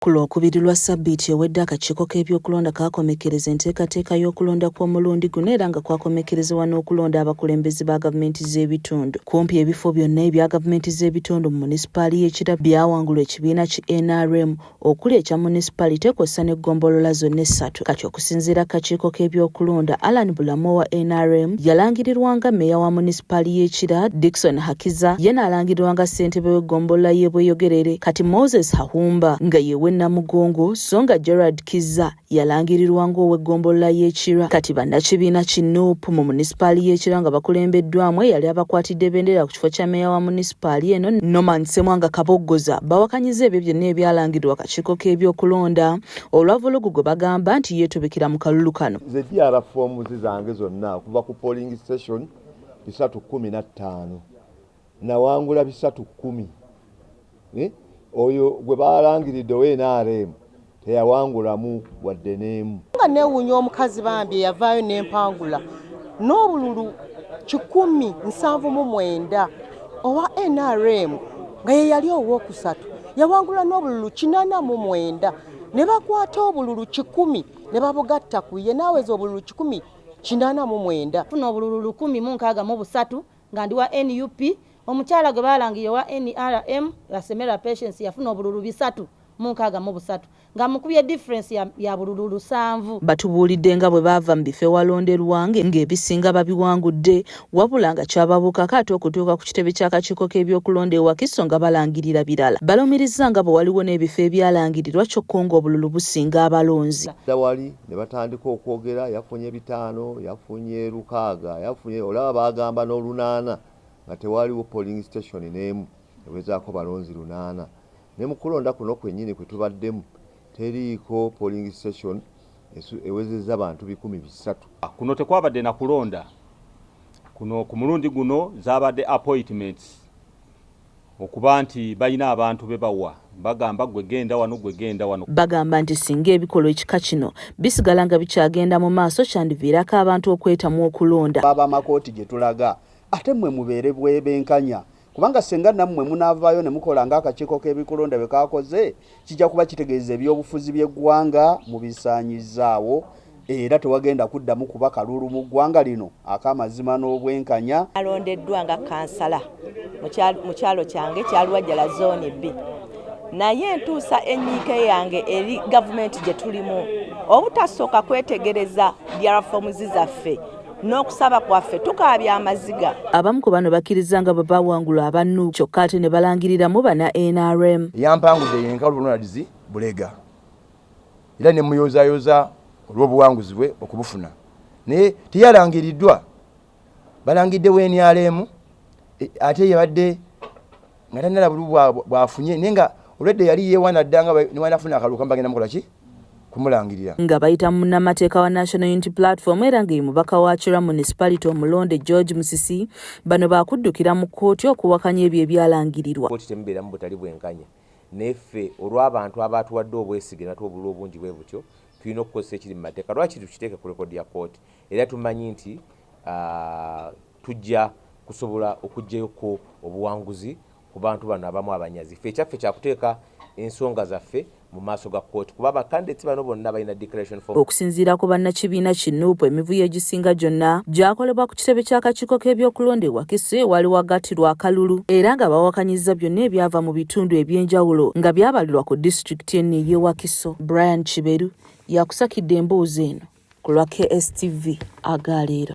Ku Lwokubiri lwa ssabbiiti ewedde akakiiko k'ebyokulonda kaakomekkereza enteekateeka y'okulonda kw'omulundi guno era nga kwakomekkerezebwa n'okulonda abakulembeze ba gavumenti z'ebitundu. Kumpi ebifo byonna ebya gavumenti z'ebitundu mu munisipaali y'e Kira byawangulwa ekibiina ki nrm okuli ekya munisipalite kw'ossa n'eggombolola zonna essatu. Kati Okusinziira ku kakiiko k'ebyokulonda, Allan Bulamu owa nrm yalangirirwa nga meeya wa munisipaali y'e Kira, Dickson Hakiza ye n'alangirirwa nga ssentebe w'eggombolola y'e Bweyogerere, kati Moses Hahumba nga ye w'e Namugongo so nga Gerald Kizza yalangirirwa ng'ow'eggombolola y'e Kira. Kati bannakibiina ki nup mu munisipaali y'e Kira nga bakulembeddwaamu eyali abakwatidde bendera ku kifo kya meeya wa munisipaali eno, Norman Ssemwanga Kaboggoza bawakanyizza ebyo byonna ebyalangirirwa akakiiko k'ebyokulonda olwa vulugu gwe bagamba nti yeetubikira mu kalulu kano. Nze DR foomuzi zange zonna okuva ku polling station bisatu kkumi na ttaano nawangula bisatu kkumi eh? oyo gwe baalangiridde owe NRM teyawangulamu wadde n'emu. Nga neewuunya omukazi bambi eyavaayo n'empangula n'obululu kikumi nsanvu mu mwenda owa NRM nga ye yali owookusatu. yawangula n'obululu kinana mu mwenda ne bakwata obululu kikumi ne babugatta ku ye n'aweza obululu kikumi kinana mu mwenda funa obululu lukumi mu nkaaga mu busatu nga ndi wa nup omukyala gwe baalangirira owa nrm asemera patience yafuna obululu bisatu mu nkaaga mu busatu nga mukubye difference ya, ya bululu lusanvu. Batubuulidde nga bwe baava mu bifo ewalonderwa ng'ebisinga babiwangudde wabula nga kyababuukako ate okutuuka ku kitebe ky'akakiiko k'ebyokulonda e Wakiso nga balangirira birala. Balumirizza nga bwe waliwo n'ebifo ebyalangirirwa kyokka ng'obululu businga abalonzi. Wali ne batandika okwogera yafunye bitaano, yafunye lukaaga, yafunye olaba baagamba n'olunaana nga tewaaliwo polling station n'emu ewezaako balonzi lunaana. Ne mu kulonda kuno kwennyini kwe tubaddemu teriiko polling station ewezezza bantu bikumi bisatu. Kuno tekwabadde na kulonda. Kuno ku mulundi guno zaabadde appoitments okuba nti balina abantu be bawa bagamba ggwe genda wano ggwe genda wano. Bagamba nti singa ebikolwa ekika kino bisigala nga bikyagenda mu maaso kyandiviirako abantu okwetamwa okulonda. Ab'amakooti gye tulaga ate mmwe mubeere benkanya Kubanga ssenga nammwe munaavaayo ne mukola ng'akakiiko k'ebikulonda bwe kaakoze, kijja kuba kitegeeza ebyobufuzi by'eggwanga mubisaanyizzaawo era tewagenda kuddamu kuba kalulu mu ggwanga lino ak'amazima n'obwenkanya. Nalondeddwa nga kkansala mu kyalo kyange kya Luwajjala Zooni B naye ntuusa ennyiike yange eri gavumenti gye tulimu obutasooka kwetegereza diarafoomuzi zaffe n'okusaba kwaffe tukaabya amaziga abamu ku bano bakkirizza nga bwe bawangula abannu kyokka ate ne balangiriramu bana nrm yampangudde yenkalu ronalds bulega era ne muyozayoza olw'obuwanguzi bwe okubufuna naye teyalangiriddwa balangiddewo nrm e, ate yabadde nga tanala bulu bwafunye naye nga olwedde yali yewana dda nga newanafuna akalulu kamba genda mukola ki kumulangirira nga bayita munnamateeka wa national unity platform era nga ye mubaka wa kira municipality omulonde george musisi bano baakuddukira mu kkooti okuwakanya ebyo ebyalangirirwa kkooti temubeeramu butali bwenkanya naye ffe olw'abantu abaatuwadde obwesige natuwa obululu obungi bwe butyo tulina okukozesa ekiri mu mateeka lwaki tukiteeke ku rekodi ya kkooti era tumanyi nti ah, Tujja kusobola okuggyayo ko obuwanguzi ku bantu bano abamu abanyazi. Ffe ekyaffe kya kuteeka ensonga zaffe mu maaso ga kkooti kuba ba candidates bano bonna balina declaration form. Okusinziira ku bannakibiina ki nup emivuyo egisinga gyonna gyakolebwa ku kitebe ky'akakiiko k'ebyokulonda e Wakiso ewaali wagattirwa akalulu era nga bawakanyizza byonna ebyava mu bitundu eby'enjawulo nga byabalirwa ku disitulikiti eno ey'e Wakiso. Brian Kiberu yakusakidde emboozi eno ku lwa KSTV aga leero.